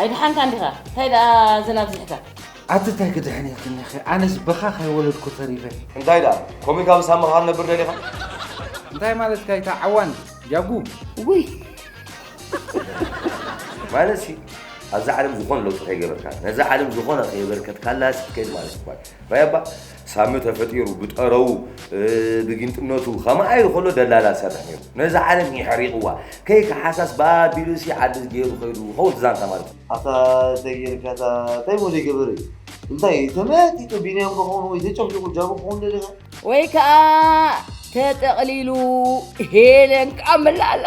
ኣይደሓንካን ዲኻ? እንታይ ደኣ ዘናብዚሕካ? ኣቲ ታይ ክድሕን ኢልክኒ ኸ ኣነስ ብኻ ከይወለድኩ ተሪፈ። እንታይ ደኣ ኮምይ ካብ ሳምኻ ክንነብር ደሊኻ? እንታይ ማለትካ እዩ እታ ዓዋን ጃጉ ውይ ማለት ሲ ኣብዛ ዓለም ዝኾነ ለውጢ ከይገበርካ ነዛ ዓለም ዝኾነ ከየበርከትካላ ከይድ ማለት እኳ ራያባ ሳሚ ተፈጢሩ ብጠረዉ ብጊንጥነቱ ከማይ ከሎ ደላላ ዝሰርሕ ነይሩ ነዛ ዓለም የሕሪቕዋ ከይከሓሳስ ብኣቢሉሲ ዓዲ ገይሩ ከይዱ ይኸውን ዛንታ ማለት እዩ። ኣታ እንታይ ጌርካ እታ እንታይ እሞ ዘይገበረ እዩ እንታይ ተመያጢጡ ቢንያም ዶ ክኸውን ወይ ተጨፍሊቑ ጃቡ ክኸውን ደሊኻ ወይ ከኣ ተጠቕሊሉ ሄለን ክኣ መላእ ኣላ።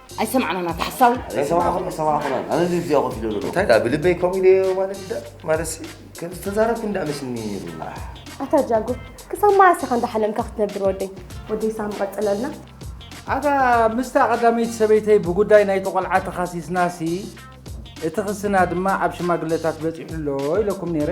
ኣይሰማዕናን ኣታ ሓሳዊ ኣይሰማዕኹን ኣይሰማዕኹን ኣነ እዚ እዚኣ ኮፍ ኢለ ኣለኹ እንታይ ደኣ ብልበይ ከምኡ ኢለ ማለት ዳ ማለት ከም ዝተዛረብኩ እንዳ መስኒ ኣታ ጃጎ ክሳብ መዓስ ኢኻ እንዳሓለምካ ክትነብር ወደይ ወደይ ሳም ቀፅለልና ኣታ ምስታ ቀዳመይቲ ሰበይተይ ብጉዳይ ናይቲ ቆልዓ ተኻሲስናሲ እቲ ክስና ድማ ኣብ ሽማግለታት በፂሑ ኣሎ ኢለኩም ነይረ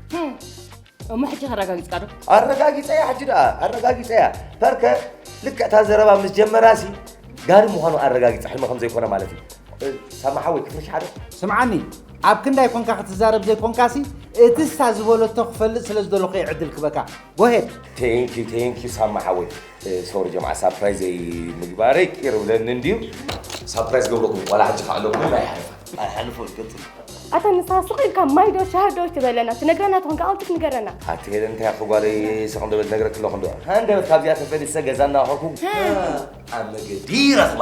እሞ ሕጂ ከረጋጊፅካ ዶ ኣረጋጊፀያ ሕጂ ደኣ ኣረጋጊፀያ ፐርከ ልክዕ እታ ዘረባ ምስ ጀመራሲ ጋሪ ምዃኑ ኣረጋጊፀ ሕልሚ ከም ዘይኮነ ማለት እዩ እ፣ ሳማሓ ወይ ክፍርሽ ሓደ ስምዓኒ ኣብ ክንዳይ ኮንካ ክትዛረብ ዘይኮንካሲ እቲ እሳ ዝበለቶ ክፈልጥ ስለ ዝደለኹ እየ ዕድል ክበካ Go ahead. Thank you, thank you, ሳማ ሓወይ ሶሪ ጀምዓ ሳፕራይዝ ዘይምግባረይ ቅር ብለኒ እንድዩ ሳፕራይዝ ገብረኩም ዋላ ሕጂ ከዓ ኣለኩም ኣይሓልፋ ኣይሓልፎ ይቅፅል ኣታ ንስኻ ስቕ ኢልካ ማይ ዶ ሻሂ ዶ ትበለና ትነግረና ትኾን ካብ ኣውትስ ንገረና ሓንቲ ሄደ እንታይ ኣኹ ጓለይ ስቕ እንደበል ነግረክ ኣለኹ እንዶ ሃንደበት ካብዚኣ ተፈሊሰ ገዛ እናኸኩ ኣብ መገዲ ይረኽባ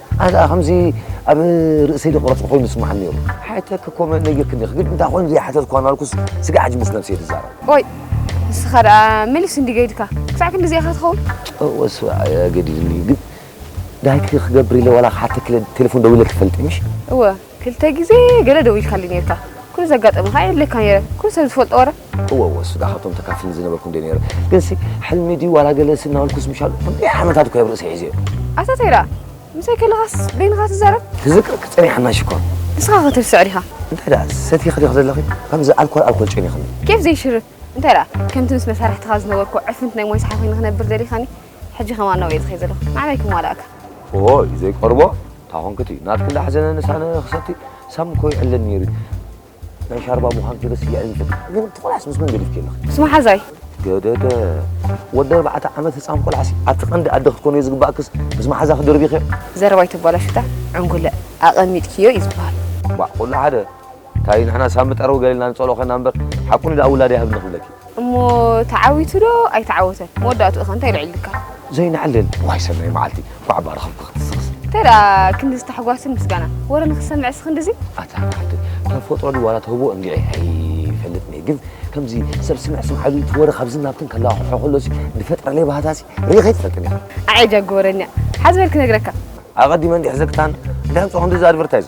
ኣነ ከኣ ከምዚ ኣብ ርእሰይ ዝቕረጽ ኮይኑ ይስምዓኒ ነይሩ። ሓተትኪ ኮመንት ነጊርክኒ ዲኺ ግን እንታይ ኮይኑ ዘይሓተትኩ ኣናልኩስ ስጋዕ ሕጂ ምስ ነብሰይ ዝዛረብ። ኦይ ንስኻ ደኣ መሊስ እንዲ ገይድካ ክሳዕ ክንድዚ ኢኻ ትኸውን። እወ ስባእ ኣገዲድኒ ግን ዳይክ ክገብር ኢለ ዋላ ክሓተኪ ኢለ ቴለፎን ደዊለልኪ ፈልጢ ምሽ። እወ። ክልተ ግዜ ገለ ደዊልካለይ ኔርካ ኩሉ ዘጋጠመ ከኣ የድልየካ ኔረ ኩሉ ሰብ ዝፈልጦ ወረ። እወ እወ እሱ ዳኣ ካብቶም ተካፍል ዝነበርኩ እንድየ ኔረ ግንሲ ሕልሚ ድዩ ዋላ ገለሲ እናበልኩስ ምሻሉ ክንደይ ዓመታት እኮ እየ ኣብ ርእሰይ ሒዘዮ። ኣታ ታይ ዳኣ ምሳይ ከለካስ በይንካ ትዛረብ። ክዝክረኪ ጸኒሓና ሽኮር። ንስካ ከ ትርስዕ ዲካ። እንታይ ደኣ ሰቲኺ ዲኺ ዘለኺ ከምዚ ኣልኮል ኣልኮል ጨኒኽኒ። ኬፍ ዘይሽርፍ እንታይ ደኣ ከምቲ ምስ መሳርሕትኻ ዝነበርኩ ዕፍንት ናይ ሞይ ሰሓ ኮይነ ክነብር ደሊካኒ። ሕጂ ከማን ናብኡ እየ ዝኸይድ ዘለኹ ንዓመይ ክማላእካ ኦይ ዘይቀርቦ ታኾንክት እዩ ናትክ እንዳሓዘነ ንሳነ ክሰቲ ሳም እኮ ይዕልን ነይሩ ናይ ሻርባ ምዃን ክደስ እያዕልን ግን ትቆላስ ምስ መን ገዲፍክ ኣለኽ ምስ መሓዛይ ገደደ ወዲ ኣርባዕተ ዓመት ህፃን ቆልዓሲ ኣብቲ ቀንዲ ኣደ ክትኮኑ እየ ዝግባእክስ ምስ መሓዛ ክድርቢኸ ዘረባይ ተባላሽታ ዕንጉለ ኣቐሚጥክዮ እዩ ዝበሃል ባዕ ኩሉ ሓደ ታይ ንሕና ሳሚ ጠረው ገሊልና ንጸልኦ ከና እምበር ሓቁ ንድኣ ውላድ ኣይሃብኒ ክብለኪ። እሞ ተዓዊቱ ዶ ኣይተዓወተን መወዳእትኡ ከ እንታይ ኣልዒሉካ? ዘይንዕልል ዋይ ሰናይ መዓልቲ ኳዕ እባ ረኸብኩ ክትስኽስ። እንታይ ደኣ ክንድዚ ታሕጓስን ምስጋናን ወረ ንኽሰምዕስ ክንድዚ። ኣታ ዓደይ ተፈጥሮ ድዩ ዋላ ተውህቦ እንድዒ ኣይፈልጥን እየ ግን ከምዚ ሰብ ስምዕ ስምዓ ኢሉ እቲ ወረ ካብዝን ናብትን ከለዋሕሖ ከሎሲ ዝፈጥረለይ ባህታሲ ርኢኸ ኣይትፈልጥን ኢኻ። ኣዔ ጃጊ ወረኛ ሓዝ በል ክነግረካ። ኣቐዲመ እንድዒ ሕዘክታን እንታይ ኣምጽኦ ክንድዚ ኣድቨርታይዝ።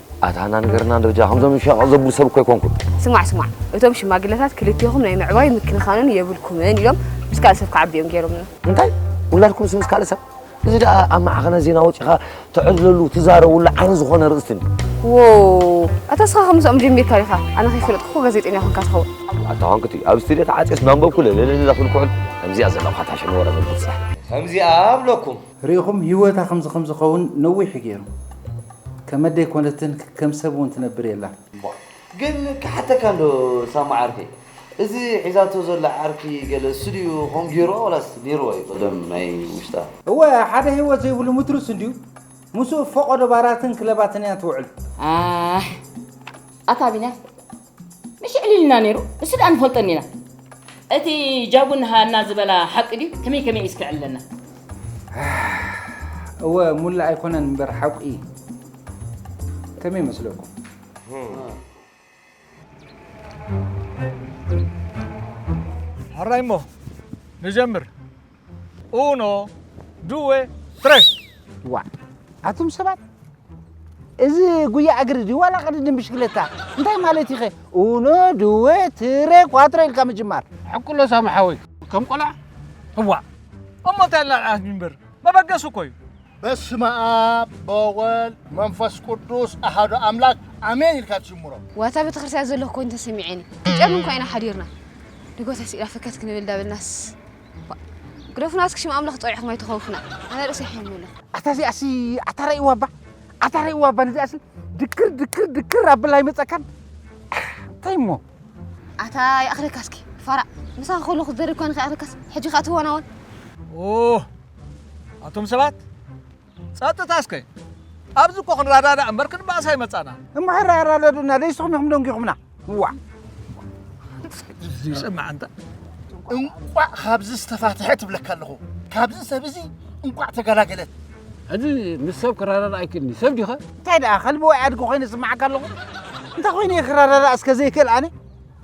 ኣታ ኣና ንገርና እንዶ ብጃ ከምዞም ዝሸቐቕ ዘብሉ ሰብ እኮ ኣይኮንኩን። ስማዕ ስማዕ እቶም ሽማግለታት ክልቴኹም ናይ ምዕባይ ምክንኻንን የብልኩምን ኢሎም ምስ ካልእ ሰብ ክዓቢ እዮም ገይሮምና። እንታይ ውላድኩምስ ምስ ካልእ ሰብ? እዚ ደኣ ኣብ ማዕኸናት ዜና ወጺኻ ትዕልለሉ ትዛረቡሉ ዓይኒ ዝኾነ ርእስቲ እንድዩ። ዎው ኣታ እስኻ ከ ምስኦም ጀሚርካ ዲኻ? ኣነ ከይፈለጥኩ እኮ ጋዜጠኛ ኮንካ ትኸውን። ኣታ ዋንኩቲ ኣብ ስቱድዮ ተዓጽየስ እናንበብኩ ለለለለ ክብል ክውዕል ከምዚኣ ዘለኹ ካታሸኒ ወረ ምብጽሕ ከምዚኣ ኣብለኩም ሪኢኹም ሂወታ ከምዚ ከምዝኸውን ነዊሕ እዩ ጌሩ ከመደይ ኮነትን ከም ሰብ እውን ትነብር የላን። ግን ክሓተካ እንዶ ሳሙ ዓርከይ እዚ ሒዛቶ ዘላ ዓርኪ ገለ እሱ ድዩ ከምኡ ጌሩዋ ዋላስ ኔሩዋ እዩ ቀደም ናይ ውሽጣ። እወ ሓደ ሂወት ዘይብሉ ምትሩስ እንድዩ ምስኡ ፈቆዶ ባራትን ክለባትን እያ ትውዕል። ኣሕ ኣታ ቢንያም መሽ ዕሊልና ነይሩ እሱ ደኣ ንፈልጦን ኢና እቲ ጃጉን ሃና ዝበላ ሓቂ ድዩ ከመይ ከመይ እስከ ዕለና እወ ሙላ ኣይኮነን እምበር ሓቁ እዩ ከመይ መስለኩም ሕራይ እሞ ንጀምር ኡኖ ዱወ ትረ ዋእ ኣቱም ሰባት እዚ ጉያ እግሪ ድዩ ዋላ ቅድድም ብሽክለታ እንታይ ማለት ኢኸ ኡኖ ድወ ትረ ኳትሮ ኢልካ ምጅማር ሕቁሎ ሳሚ ሓወይ ከም ቆልዓ እዋ እሞ እንታይ ኣላልዓት እምበር መበገሲ እኮ እዩ በስመ ኣብ በወልድ መንፈስ ቅዱስ ኣሃዶ ኣምላክ ኣሜን ኢልካ ትጅምሮ ዋታ ቤተክርስትያን ዘለኹ ኮይኑ ተሰሚዐኒ ጨምን ኮይና ሓዲርና ንጎታ ስኢላ ፈከት ክንብል ዳበልናስ ግደፉና እስኪ ሽም ኣምላኽ ፀዊዕኹም ኣይተኸውፉና ኣነ ርእሰይ ሕምም ኢሉ ኣታ እዚኣሲ ኣታ ረእይዋ እባ ኣታ ረእይዋ እባ ንዚኣሲ ድክር ድክር ድክር ኣብላ ኣይመፀካን እንታይ እሞ ኣታ ይኣኽለካ እስኪ ፋራ ምሳኺ ከለኹ ዝደርብ ኳንኺ ይኣኽለካስ ሕጂ ከዓ ትዋናወን ኦ ኣቶም ሰባት ጸጥታ እስከ ኣብዚ እኮ ክንራዳዳእ እምበር ክንባእስ ኣይመጻና። እሞ ሕራ ኣራዳዱና ደይስኹም ኢኹም ደንጊኹምና ዋዕ ይሰማዕ እንተ እንቋዕ ካብዚ ዝተፋትሐ ትብለካ ኣለኹ ካብዚ ሰብ እዚ እንቋዕ ተገላገለት ሕዚ ምስ ሰብ ክራዳዳ ኣይክእልኒ ሰብ ዲኸ እንታይ ደኣ ከልቢ ወይ ኣድጊ ኮይኑ ይስማዓካ ኣለኹ እንታይ ኮይኑ እየ ክራዳዳእ እስከ ዘይክእል ኣነ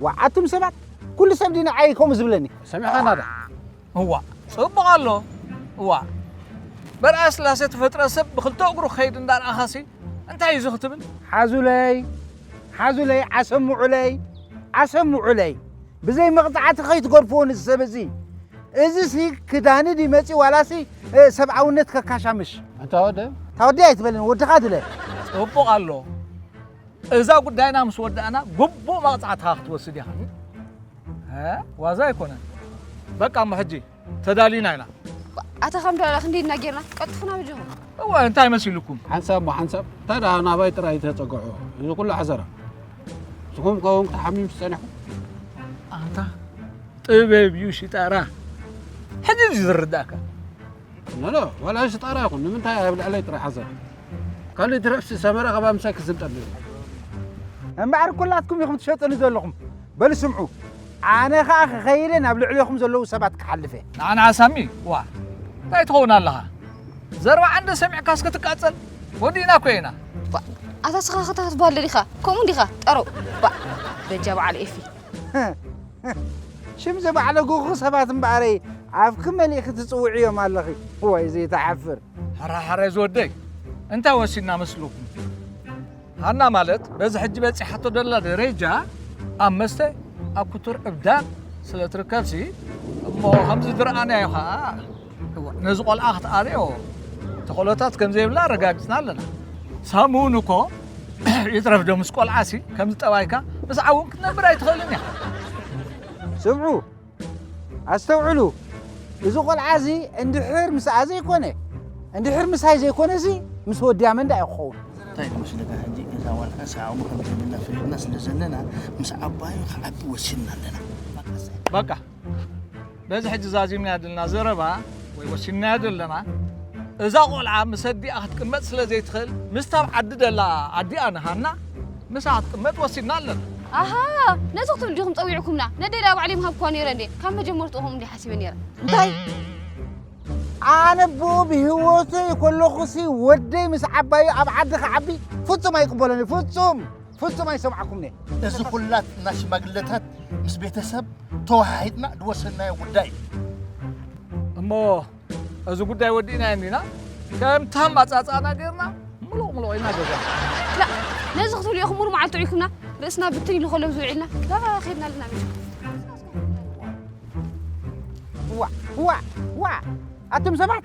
ዋዓቱም ሰባት ኩሉ ሰብ ዲ ንዓይ ከምኡ ዝብለኒ ሰሚዕኻና ዶ እዋእ ጽቡቅ ኣሎ እዋእ በርኣ ስላሴ ተፈጥረ ሰብ ብክልተ እግሩ ክከይድ እንዳርኣካሲ እንታይ እዩ እዚ ክትብል ሓዙለይ ሓዙለይ ዓሰምዑለይ ዓሰምዑለይ ብዘይ መቕጻዕቲ ከይትገርፍዎ ንዚ ሰብ እዚ እዚሲ ክዳኒ ድዩ መጺኡ ዋላሲ እ፣ ሰብኣውነት ከካሻምሽ ኣንታ ወደ እታ ወዲ ኣይትበልን ወድኻ ድለ ጽቡቅ ኣሎ እዛ ጉዳይና ምስ ወዳእና ግቡእ መቕጻዕትኻ ክትወስድ ኢኻ ዋዛ ኣይኮነን በቃ እሞ ሕጂ ተዳሊና ኢና ኣታ ከም ዳላ ክንደይ እና ጌርና ቀጥፉና ብጀኹ እወ እንታይ መሲልኩም ሓንሳብ ሞ ሓንሳብ እንታይ ደኣ ናባይ ጥራይ ተፀግዑ እዚ ኩሉ ዓዘራ ንስኹም ከውን ክትሓሚም ዝፀኒሕኩም ኣታ ጥበብ እዩ ሽጣራ ሕጂ እዩ ዝርዳእካ ኖኖ ዋላ ኣንስ ጣራ ይኹን ንምንታይ ኣብ ልዕለይ ጥራይ ሓዘን ካልእ ይትረፍሲ ሰመረ ካብ ኣምሳይ ክዝንጠል ነይሩ እምበኣር ኩላትኩም ኢኹም ትሸጡኒ ዘለኹም በሉ ስምዑ ኣነ ኸኣ ክኸይደ ናብ ልዕሌኹም ዘለዉ ሰባት ክሓልፍ እየ ንዓና ሳሚ ዋ እንታይ ትኸውን ኣለኻ ዘርባ ዓንደ ሰሚዕካስ ክትቃጸል ወዲእና እኮ ኢና ኣታ ስኻ ክታትባለ ዲኻ ከምኡ ዲኻ ጠሮ ባዕ በጃ በዓል ኤፊ ሽም ዘባዕለጉኹ ሰባት እምበኣረይ ኣፍኪ መሊእኺ ትጽውዕዮም ኣለኺ ዋይ ዘይትሓፍር። ሕራሕረ ዝወደይ እንታይ ወሲድና መስልኹም? ሃና ማለት በዚ ሕጂ በጺሓቶ ደላ ደረጃ ኣብ መስተ ኣብ ክቱር ዕብዳን ስለ ትርከብሲ እሞ ከምዚ ዝረኣናዮ ኸኣ ነዚ ቆልዓ ክትኣልዮ ተኽእሎታት ከም ዘይብላ ኣረጋጊጽና ኣለና ሳብ እውን እኮ ይትረፍ ዶ ምስ ቆልዓ ሲ ከምዚ ጠባይካ ምስ ዓውን ክትነብር ኣይትኽእልን ኢኻ ስምዑ ኣስተውዕሉ እዚ ቆልዓ እዚ እንድሕር ምስኣ ዘይኮነ እንድሕር ምሳይ ዘይኮነ እዚ ምስ ወድያ መንዳ እዩ ክኸውን እንታይ ንወስደካ ሕጂ እዛ ዋልካ ሰዓሙ ከም ዘይብላ ፈሊጥና ስለ ዘለና ምስ ዓባዩ ክዓቢ ወሲንና ኣለና በቃ በዚ ሕጂ ዛዚምናዮ ዘለና ዘረባ ወይ ወሲንናዮ ዘለና እዛ ቆልዓ ምስ ኣዲኣ ክትቅመጥ ስለ ዘይትኽእል ምስታ ኣብ ዓዲ ደላ ኣዲኣ ንሃና ምስኣ ክትቅመጥ ወሲንና ኣለና። ኣሃ ነዚ ክትብሉ ዲኹም ጸዊዕኩምና? ነደይ ደኣ ባዕለይ ምሃብክዋ ነይረ እንድየ። ካብ መጀመርትኡ ከምኡ እንድየ ሓሲበ ነይረ። እንታይ ኣነ ብኡ ብህይወተይ ከለኹሲ ወደይ ምስ ዓባዩ ኣብ ዓዲ ክዓቢ ፍጹም ኣይቅበሎን እየ ፍጹም ፍጹም ኣይሰምዓኩምን'የ። እዚ ኩላትና ሽማግለታት ምስ ቤተሰብ ተወሃሂድና ዝወሰድናዮ ጉዳይ እዩ። እሞ እዚ ጉዳይ ወዲእናዮ እንዲና? ከምቲ ኣመጻጽኣና ጌርና ምሉቕ ምሉቕ ኢልና ገዛና። ላእ ነዚ ክትብሉ ኢኹም ሙሉእ መዓልቲ ውዒልኩምና ርእስና ብትን ኢሉ ከሎ ምስ ውዒልና ዳርጋ ከይድና ኣለና ሚሽኩ። ዋእ ዋእ ዋእ ኣቱም ሰባት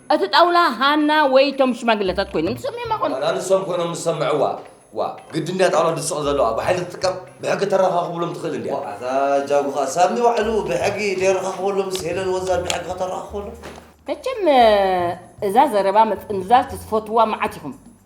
እቲ ጣውላ ሃና ወይ እቶም ሽማግለታት ኮይኖም ተሰሚዖማ ኮኑ። ዋላ ንሶም ኮይኖም ዝሰምዕዋ ዋእ ግድን ድያ ጣውላ ድስቕ ዘለዋ ብሓይሊ ትጥቀም ብሕጊ ተረኻኽብሎም ትኽእል እንድያ። ዋእ ኣታ ጃጉ ከኣ ሳሚ ባዕሉ ብሕጊ ደየረኻኽበሎም ምስ ሄለን ወዛል ብሕጊ ከተረኻኽበሎም። መቸም እዛ ዘረባ ምጥምዛዝ ትፈትዉዋ መዓት ኢኹም።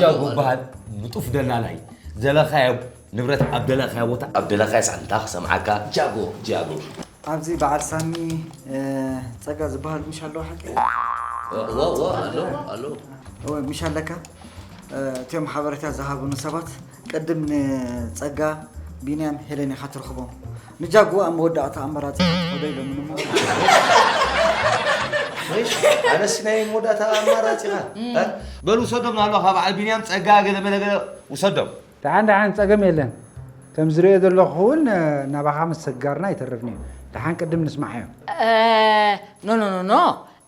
ጃጎ በሃል ንጡፍ ደላላይ ዘለኻዮ ንብረት ኣብ ደለኻዮ ቦታ ኣብ ደለኻዮ ሰዓት እንታ ክሰምዓካ ጃጎ ጃጎ ኣብዚ በዓል ሳሚ ፀጋ ዝበሃል ምሽ ኣለዎ ሓቂ ኣሎ ኣሎ እወ ምሽ ኣለካ እትዮም ሓበሬታ ዝሃቡኒ ሰባት ቅድም ንጸጋ፣ ቢንያም፣ ሄለን ኢኻ ትርኽቦም። ንጃጉ ኣብ መወዳእታ ኣመራጺኻ ትኸዶ ኢሎምን እሞ ኣነስ ናይ መወዳእታ ኣማራጺኻ እ? በል ውሰዶም ናብላኻ በዓል ቢንያም፣ ጸጋ፣ ገለመለ ገለ ውሰዶም። ደሓን ደሓን ጸገም የለን። ከም ዝርእዮ ዘለኹ እውን ናባኻ ምስግጋርና ኣይተርፍን'ዩ። ደሓን ቅድም ንስምዓዮም። ኖኖኖኖ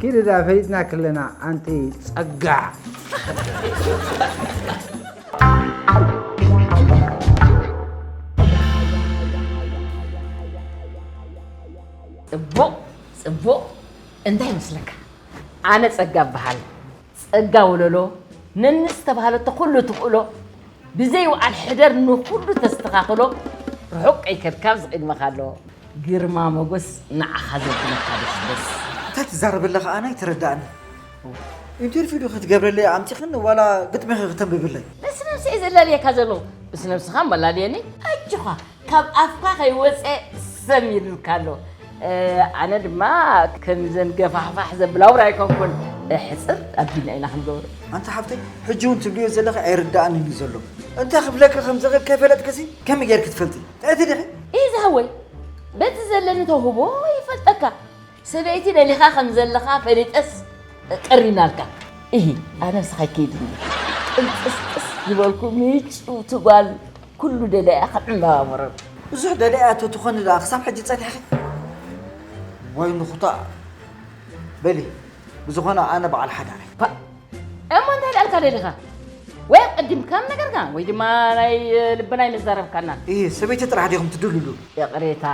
ኪድዳ ፈሊጥና ክለና ኣንቲ ጸጋ ፅቡቕ ፅቡቕ እንታይ ይመስለካ ኣነ ፀጋ እበሃል ጸጋ ወለሎ ነኒ ዝተባህለቶ ኩሉ ትኽእሎ ብዘይ ውዓል ሕደር ንኹሉ ተስተኻኽሎ ርሑቕ ከይከድካ ኣብዚ ቅድመኻ ኣሎ ግርማ ሞጎስ ንዓኻ ዘብለካ ደስደስ። እታ ትዛረበላ ከኣ ኣይተረዳኣንን ኢንተርቪው ዶ ክትገብረለይ ኣምጺኽኒ ዋላ ግጥሚኺ ክተንብብለይ። ነስነብሰይ እየ ዘላልየካ ዘለኹ ብስነብስኻ ኣመላልየኒ ኣጆኻ ካብ ኣፍካ ከይወፀ ሰም ኢሉልካ ኣሎ። ኣነ ድማ ከምዘን ገፋሕፋሕ ዘብላ ውራ ኣይኮንኩን ሕፅር ኣቢልና ኢና ክንገብሮ። ኣንታ ሓፍተይ ሕጂ እውን ትብልዮ ዘለኺ ኣይርድኣንን እዩ ዘሎ። እንታይ ክብለኪ ከም ዝኽእል ከይፈለጥክሲ ከመይ ጌርኪ ትፈልጢ? ጥዕይቲ ዲኺ? ኢዛ ወይ በቲ ዘለኒ ተውህቦ ይፈልጠካ ሰበይቲ ደሊኻ ከም ዘለኻ ፈሊጠስ ቀሪናልካ። እሂ ኣነስ ኸይከይድኒ ቅንጥስጥስ ዝበልኩ ምጭውቲ ጓል ኩሉ ደላያ ከም ዕምባባ መሮር። ብዙሕ ደላያ ተትኾኒ ደኣ ክሳብ ሕጂ ጸኒሕኺ? ወይ ንኹታ በሊ ብዝኾነ ኣነ በዓል ሓዳር እየ። ፓእ እሞ እንታይ ደኣ ኢልካ ደሊኻ ወይ ኣቀዲምካ ምነገርካ ወይ ድማ ናይ ልብና ኣይምዛረብካናን። እሂ ሰበይቲ ጥራሕ ዲኹም ትድልሉ? ይቕሬታ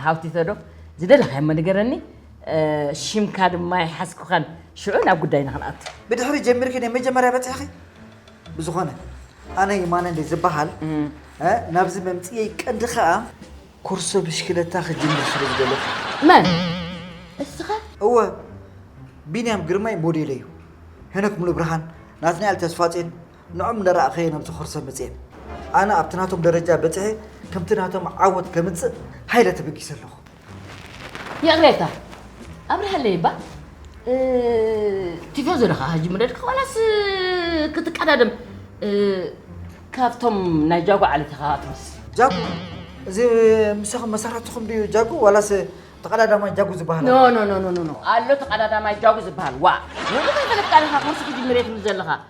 ሃውቲቶ ዶ ዝደለኻዮሞ ንገረኒ ሽምካ ድማ ኣይሓዝኩኻን ሽዑ ናብ ጉዳይና ክንኣቱ ብድሕሪ ጀሚርኪ ናይ መጀመርያ በፂሕኺ ብዝኾነ ኣነ የማነ እንደ ዝበሃል ናብዚ መምፅኤይ ቀንዲ ከዓ ኩርሶ ብሽክለታ ክጅምር ስለ ዝደለኹ መን እስኻ እወ ቢንያም ግርማይ ሞዴለ እዩ ሄኖክ ሙሉ ብርሃን ናትናኤል ተስፋጼን ንዖም እንዳረኣኸየ ናብዚ ኮርሰ መጽየ። ኣነ ኣብቲ ናቶም ደረጃ በጺሐ ከምቲ ናቶም ዓወት ከምጽእ ሃይለ ተበጊሰ ኣለኹ። ይቕሬታ ኣብርሃለይ እባ ቲፎዞ ዲኻ ሕጂ ምረድካ ዋላስ ክትቀዳደም ካብቶም ናይ ጃጎ ዓሌት ኢኻ ትመስል። ጃጉ እዚ ምሳኹም መሰረትኹም ድዩ ጃጉ ዋላስ ተቐዳዳማይ ጃጉ ዝበሃል ኖ ኣሎ? ኖ ኖ ኖ ኖ ኣሎ ተቐዳዳማይ ጃጉ ዝበሃል ዋ ንብዙሕ ተለቃሊኻ ኮርሲ ክጅምር እየ ትብል ዘለኻ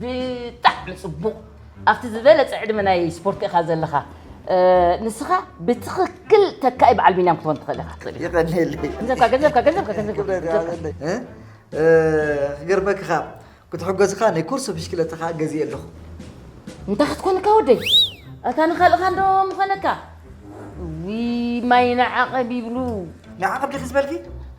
ብጣዕሚ ጽቡቕ ኣብቲ ዝበለጸ ዕድመ ናይ ስፖርት ኢኻ ዘለኻ ንስኻ ብትኽክል ተካኢ በዓል ቢንያም ክትኾን ትኽእል ኢኻ ትኽእል ይቐኒለይ ገንዘብካ ገንዘብካ ገንዘብካ ገንዘብካ ክገርመኪ ካብ ክትሕገዝካ ናይ ኮርሶ ብሽክለታ ከዓ ገዚእ ኣለኹ እንታይ ክትኮንካ ወደይ እታ ንካልእኻ እንዶ ምኾነካ ዊ ማይ ንዓቐብ ይብሉ ንዓቐብ ዲኺ ዝበልኪ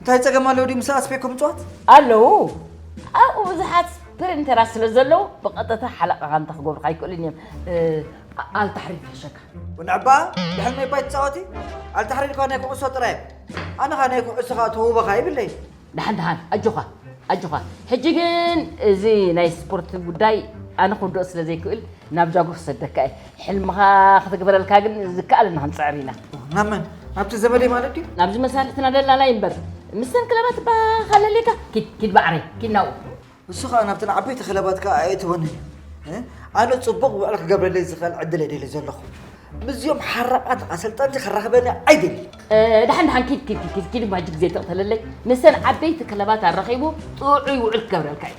እንታይ ፀገም ኣለዎ ድዩ ምስ ኣስፌኮ ምፅዋት? ኣለዉ ኣብኡ ብዙሓት ፕሪንተራት ስለ ዘለዉ ብቐጥታ ሓለቓኻ እንተክገብሩካ ኣይክእሉን እዮም ኣልታሕሪ ይሕሸካ ወንዕባ ድሕሪ ናይ ባይ ትፃወቲ ኣልታሕሪ ልኳ ናይ ኩዕሶ ጥራይ ኣነ ኸ ናይ ኩዕሶ ከዓ ተውበኻ ይብለይ ደሓን ደሓን ኣጆኻ ኣጆኻ ሕጂ ግን እዚ ናይ ስፖርት ጉዳይ ኣነ ክውድኦ ስለ ዘይክእል ናብ ጃጎ ክሰደካ እየ ሕልምኻ ክትግበረልካ ግን ዝከኣለና ክንፅዕር ኢና ናብ መን ናብቲ ዘመደይ ማለት ድዩ ናብዚ መሳርሕትና ደላላ ይንበር ምስተን ክለባት ባኻለሌካ ኪድ ኪድ ባዕረይ ኪድ ናብኡ ንሱ ከዓ ናብተን ዓበይቲ ክለባት ከዓ ኣየእትወንን እዩ እ? ኣነ ፅቡቕ ውዕል ክገብረለይ ዝኽእል ዕድል እየ ደልየ ዘለኹ ምስዚኦም ሓራቓት ኣሰልጠንቲ ክራኽበኒ ኣይደሊ ድሓን ድሓን ኪድ ኪድ ኪድ ኪድ ባጅ ግዜ ተቕተለለይ ምስተን ዓበይቲ ክለባት ኣራኺቡ ጥዑይ ውዕል ክገብረልካ እዩ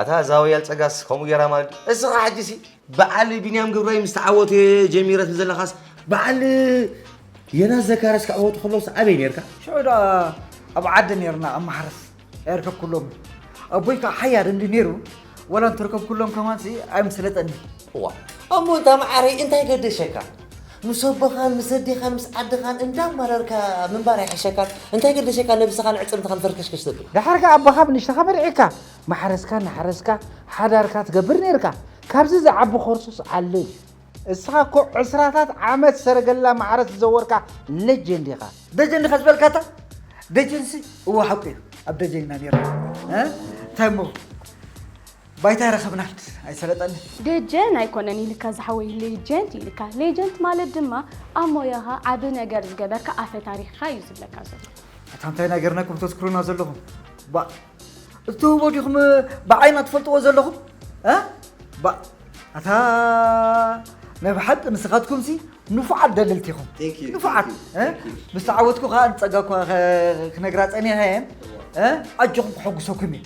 ኣታ እዛ ወያል ፀጋስ ከምኡ ገይራ ማለት ድዩ? እስኻ ሕጂ ሲ በዓል ቢንያም ግብራይ ምስ ተዓወተ ጀሚረት ዘለኻስ በዓል የናስ ዘካርያስ ክዕወቱ ከለውስ ኣበይ ነይርካ? ሽዑ ደኣ ኣብ ዓዲ ነይርና ኣብ ማሕረስ ኣይርከብኩሎም ኣቦይ ከዓ ሓያል እንዲ ነይሩ ወላ እንተርከብኩሎም ከማን ሲ ኣይምስለጠኒ ዋ እሞ እንታ መዓረይ እንታይ ገደሸካ ምስ ኣቦኻን ምስ ኣዴኻን ምስ ዓድኻን እንዳማረርካ ምንባር ኣይሕሸካን እንታይ ገደሸካ ነብስኻን ዕፅምትኻን ፈርከሽከሽ ተብል ድሓር ከዓ ኣቦኻ ብንሽተኻ መርዒካ ማሕረስካ እናሓረስካ ሓዳርካ ትገብር ነይርካ ካብዚ ዝዓቢ ኮርሱስ ኣሎ እዩ እስኻ እኮ ዕስራታት ዓመት ሰረገላ ማዕረ ዝዘወርካ ለጀንድ ኢኻ። ደጀን ኢኻ ዝበልካ እታ ደጀንሲ እወ ሓቁ እዩ ኣብ ደጀን ኢና ነይርና እ? እንታይ እሞ ባይታ ረኸብናል ኣይሰለጠኒ ደጀን ኣይኮነን ኢልካ ዝሓወይ ሌጀንት ኢልካ ሌጀንት ማለት ድማ ኣብ ሞያኻ ዓቢ ነገር ዝገበርካ ኣፈ ታሪኽኻ እዩ ዝብለካ ዘሎ ኣታ እንታይ ናገርናኩም ተዝክሩና ዘለኹም ባእ እትህቦ ዲኹም ብዓይና ትፈልጥዎ ዘለኹም ኣታ ናይ ብሓቂ ንስኻትኩም ሲ ንፉዓት ደለልቲ ኢኹም ንፉዓት ምስ ተዓወትኩ ከዓ ንፀጋ እኳ ክነግራ ፀኒሐ እየን ኣጆኹም ክሐጉሰኩም እዩ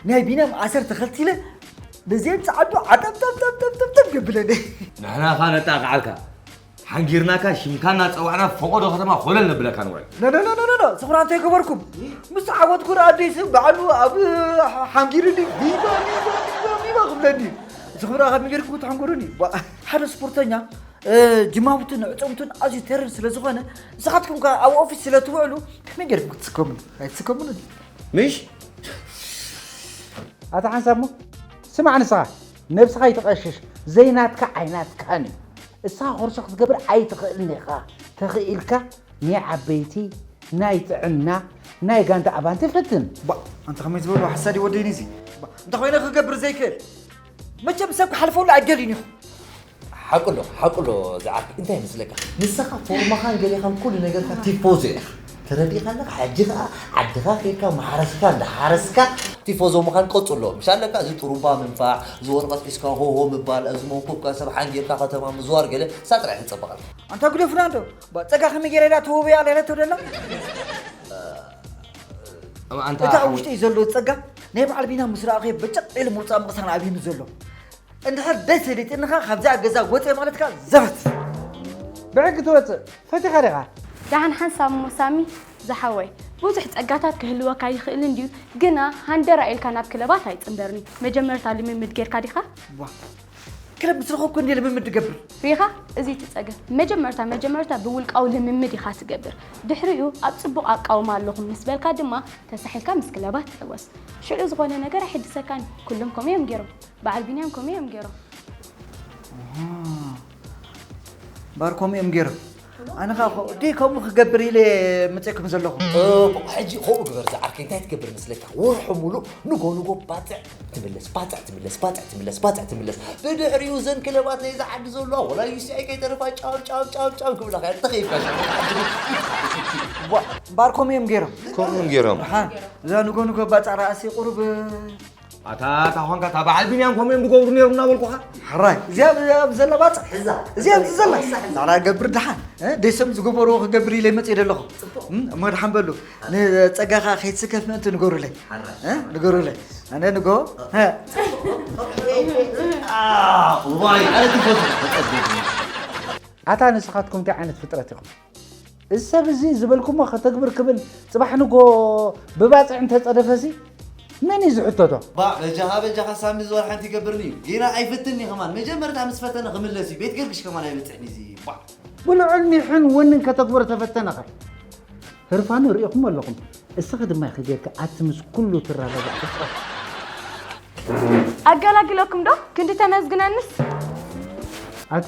ናይ ቢንያም ኣሰር ተኸልቲለ ብዘየን ፀዓዱ ዓጠብጠብጠብጠብጠብ የብለኒ ንሕና ኸ ነጣቕዓልካ ሓንጊርናካ ሽምካ እናፀዋዕና ፈቆዶ ከተማ ኮለል ነብለካ ንውዕል ኖኖኖኖኖ ስኽራን ተይገበርኩም ምስ ተዓወትኩ ረኣ ኣደይ ስም ባዕሉ ኣብ ሓንጊርኒ ቪቫ ቪቫ ቪቫ ክብለኒ እዚ ክብራ ካብ ሚገርክ ክትሓንጎረኒ ሓደ ስፖርተኛ ጅማውትን ዕፅምቱን ኣዝዩ ተርር ስለ ዝኾነ ንስኻትኩም ከ ኣብ ኦፊስ ስለ ትውዕሉ ከመይ ገርኩም ክትስከሙ ኣይትስከሙን ምሽ ኣታ ሓንሳብ ሞ ስማዕ ንስኻ ነብስኻ ኣይተቐሽሽ ዘይናትካ ኣይናትካን እዩ እሳ ኾርሶ ክትገብር ኣይትኽእልን ኢኻ ተኽኢልካ ናይ ዓበይቲ ናይ ጥዕና ናይ ጋንታ ኣባንቲ ፈትን ባ ኣንተ ከመይ ዝበሉ ሓሳድ ይወደይኒ እዚ እንተ ኮይነ ክገብር ዘይክእል መቸም ሰብ ክሓልፈሉ ኣይደልዩን ኢኹ ሓቁዶ ሓቁዶ ዝዓርከይ እንታይ ይመስለካ ንስኻ ፎርማኻን ገሌኻን ኩሉ ነገርካ ቲፎዞ ኢኻ ተረዲእኻ ኣለካ ሕጂ ከዓ ዓድኻ ኬድካ ማሕረስካ እንዳሓረስካ ቲፎዞ ምዃን ቀፅሎ ምሽ ኣለካ እዚ ጥሩምባ ምንፋዕ እዚ ወረቐት ሒዝካ ሆሆ ምባል እዚ መንኮብካ ሰብ ሓንጊርካ ከተማ ምዝዋር ገለ እሳ ጥራይ ክፀበቐልካ ኣንታ ጉደ ፍናንዶ ፀጋ ከመይ ገይረ ኢላ ተወበያ ለረቶ ደላ ኣንታ እታ ኣብ ሓወይ ውሽጢ እዩ ዘሎ ፀጋ ናይ በዓል ቢና ምስ ረኣኸዮ በጨቕ ኢሉ ምውፃእ ምቕሳን ኣብዩኒ ዘሎ እንድሕር ደስ ዘይትንኻ ካብዚኣ ገዛ ወፀ ማለት ከኣ ዘበት ብሕጊ ትወፅእ ፈቲኻ ዲኻ ደሓን ሓንሳብ እሞ ሳሚ ዝሓወይ ብዙሕ ጸጋታት ክህልወካ ይኽእል እንድዩ ግና ሃንደራ ኢልካ ናብ ክለባት ኣይጽንበርኒ መጀመርታ ልምምድ ጌርካ ዲኻ ዋ ክለብ ምስ ረኸብኩ እንድየ ልምምድ ዝገብር ሪኻ እዚ እቲ ጸገም መጀመርታ መጀመርታ ብውልቃዊ ልምምድ ኢኻ ትገብር ድሕሪኡ ኣብ ጽቡቕ ኣቃውማ ኣለኹም ምስ በልካ ድማ ተሳሒልካ ምስ ክለባት ትሕወስ ሽዑ ዝኾነ ነገር ኣይሕድሰካን ኩሎም ከምኡ እዮም ጌሮም በዓል ቢንያም ከምኡ እዮም ገይሮም ባር ከምኡ እዮም ገይሮም ኣነ ከዓ ዲ ከምኡ ክገብር ኢለ መፅእኩም ዘለኹ ሕጂ ከምኡ ግበር ዝዓርከይ እንታይ ትገብር መስለካ ወርሑ ሙሉእ ንጎ ንጎ ባፅዕ ትምለስ ባፅዕ ትምለስ ባፅዕ ትምለስ ባፅዕ ትምለስ ብድሕሪኡ ዘን ክለባት ናይዚ ዓዲ ዘለዋ ወላ ዩሲኣይ ከይተረፋ ጫው ጫው ጫው ጫው ክብላ ከ ተኸይፍካ ባር ከምኡ እዮም ገይሮም ከምኡ እዮም ገይሮም እዛ ንጎ ንጎ ባፅዕ ረኣሲ ቁሩብ ኣታ እታ ኳንካ እታ በዓል ቢንያም ከምኡ እዮም ዝገብሩ ነይሩ እናበልኩኻ ሕራይ እዚኣ ዘላ ባፅ እዚኣ ዘላ ዛዕላ ገብር ድሓን ደሰም ዝገበርዎ ክገብር ኢለ መፅእ ደለኹ እሞ ድሓን በሉ ንፀጋኻ ከይትስከፍ ምእንቲ ንገሩለይ ንገሩለይ ኣነ ንጎ ኣታ ንስኻትኩም እንታይ ዓይነት ፍጥረት ኢኹም እዚ ሰብ እዚ ዝበልኩሞ ከተግብር ክብል ፅባሕ ንጎ ብባፅዕ እንተፀደፈሲ መን እዩ ዝሕተቶ? ባእ በጃኻ በጃኻ ሳሚ ዝወር ሓንቲ ይገብርኒ እዩ ጌና ኣይፍትን እዩ ከማን መጀመርታ ምስ ፈተነ ክምለስ እዩ ቤት ገርግሽ ከማን ኣይበፅሕን እዩ እዚ ባዕ ብልዑል ኒሕን ወንን ከተግብሮ ተፈተነኸ ህርፋኑ ርኢኹሞ ኣለኹም እስኺ ድማ ኢኺ ጌርኪ ኣቲ ምስ ኩሉ ትራዳዳእ ፍጥረት ኣገላግለኩም ዶ ክንዲ ተመስግነንስ ኣቲ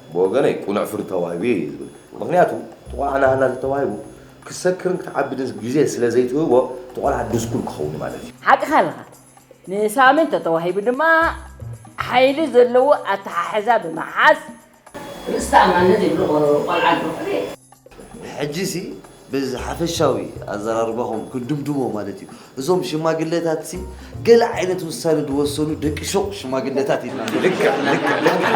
ብወገነይ ቅኑዕ ፍርዲ ተዋሂቡዮ እየ ዝብል። ምኽንያቱ እቲ ቆልዓ ናህና ተዋሂቡ ክሰክርን ክትዓብድን ግዜ ስለ ዘይትህቦ እቲ ቆልዓ ድስኩል ክኸውን እዩ ማለት እዩ። ሓቅኻ ኣለኻ። ንሳሚ እንተተዋሂቡ ድማ ሓይሊ ዘለዎ ኣተሓሕዛ ብምሓዝ፣ ርእሰ ተኣማንነት ዘይብሉ ቆልዓ እንተኾነ፣ ሕጂሲ ብዝሓፈሻዊ ኣዘራርባኹም ክንድምድሞ ማለት እዩ እዞም ሽማግለታትሲ ገለ ዓይነት ውሳነ ዝወሰኑ ደቂ ሹቕ ሽማግለታት ኢልና ልክዕ ልክዕ ልክዕ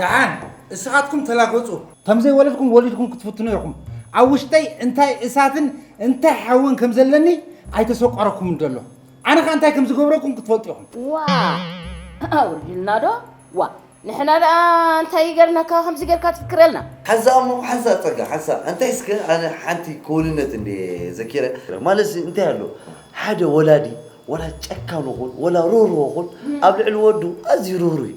ደሓን እስኻትኩም ተላገፁ። ከም ዘይወለድኩም ወሊድኩም ክትፍትኑ ኢኹም። ኣብ ውሽጠይ እንታይ እሳትን እንታይ ሓውን ከም ዘለኒ ኣይተሰቆረኩምን ዘሎ። ኣነ ከ እንታይ ከም ዝገብረኩም ክትፈልጡ ኢኹም። ዋእ ኣውርድልና ዶ ዋእ ንሕና ደኣ እንታይ ገርናካ ከምዚ ጌርካ ትፍክረልና። ሓንሳእ እሞ ሓንሳእ ጸጋ ሓንሳእ እንታይ እስከ ኣነ ሓንቲ ክውንነት እንድየ ዘኪረ ማለትሲ እንታይ ኣሎ ሓደ ወላዲ ወላ ጨካን ኹን ወላ ርህሩህ ኹን ኣብ ልዕሊ ወዱ ኣዝዩ ርህሩህ እዩ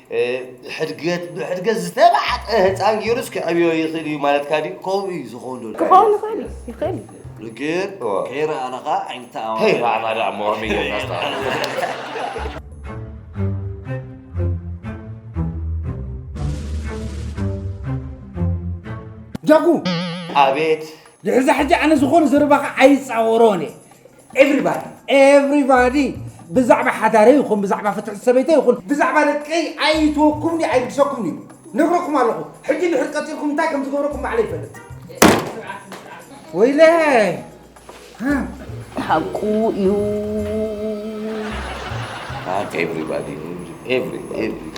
ሕድገት ብሕድገት ዝተባዕጠ ህፃን ገይሩስ ክዕብዮ ይኽእል እዩ ማለትካ ድዩ? ከምኡ እዩ ዝኸውን ዶ ክኸውን ይኽእል እዩ ይኽእል እዩ ልክዕ እዋ። ከይረኣና ከዓ ኣይንተኣማመን። ከይረኣና ደኣ እሞ ከመይ ጌርና ነስተኣማምን? ጃኩ! ኣቤት! ድሕሪ እዛ ሕጂ ኣነ ዝኾነ ዘረባኻ ኣይፃወሮን እየ። ኤቭሪባዲ ኤቭሪባዲ ብዛዕባ ሓዳረ ይኹን ብዛዕባ ፍትሕቲ ሰበይተ ይኹን ብዛዕባ ደቀይ ኣይትወኩምኒ ኣይግሰኩምኒ እዩ ነግረኩም ኣለኹ ሕጂ ድሕር ቀፂልኩም እንታይ ከም ዝገብረኩም ባዕለ ይፈልጥ ወይለ ሓቁ እዩ ኤቭሪባዲ ኤቭሪ ኤቭሪ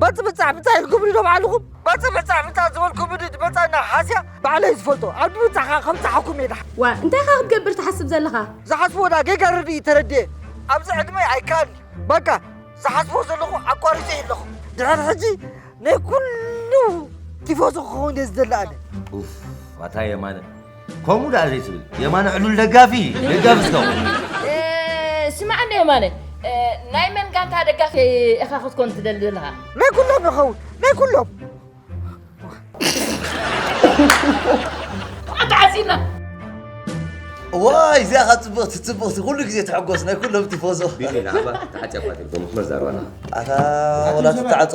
በፅብፃዕ ብፃዕ ኢልኩም ዶ ባዕልኹም በፅብፃዕ ብፃዕ ዝበልኩ ብድድ በፃዕና ሓስያ ባዕለይ ዝፈልጦ ኣብ ድብፃዕ ከዓ ከምፅሓኩም እየ ድሓ ዋ እንታይ ኻ ክትገብር ትሓስብ ዘለኻ ዝሓስቦ ዳ ጌጋ ርድኢ ተረድየ ኣብዚ ዕድመይ ኣይከኣልኒ በቃ ዝሓስቦ ዘለኹ ኣቋሪፀ እዩ ኣለኹ ድሕር ሕጂ ናይ ኩሉ ቲፎዞ ክኸውን እየ ዝደሊ ኣነ ኣታ የማነ ከምኡ ደኣ ዘይትብል የማነ ዕሉል ደጋፊ ደጋፊ ዝኸውን ስማዓኒ የማነ ናይ መን ጋንታ ደጋፊ ኢኻ ክትኮን ትደሊ ዘለኻ ናይ ኩሎም ይኸውን ናይ ኩሎም ተዓፂና ዋይ እዚኣ ካብ ፅብቕቲ ፅብቕቲ ኩሉ ግዜ ትሕጎስ ናይ ኩሎም ቲፎዞ ቢኒ ንዓባ ተዓፅያ እኳ ተልፎ መስመር ዛረባ ኣለኻ ኣታ ወላ ትተዓፆ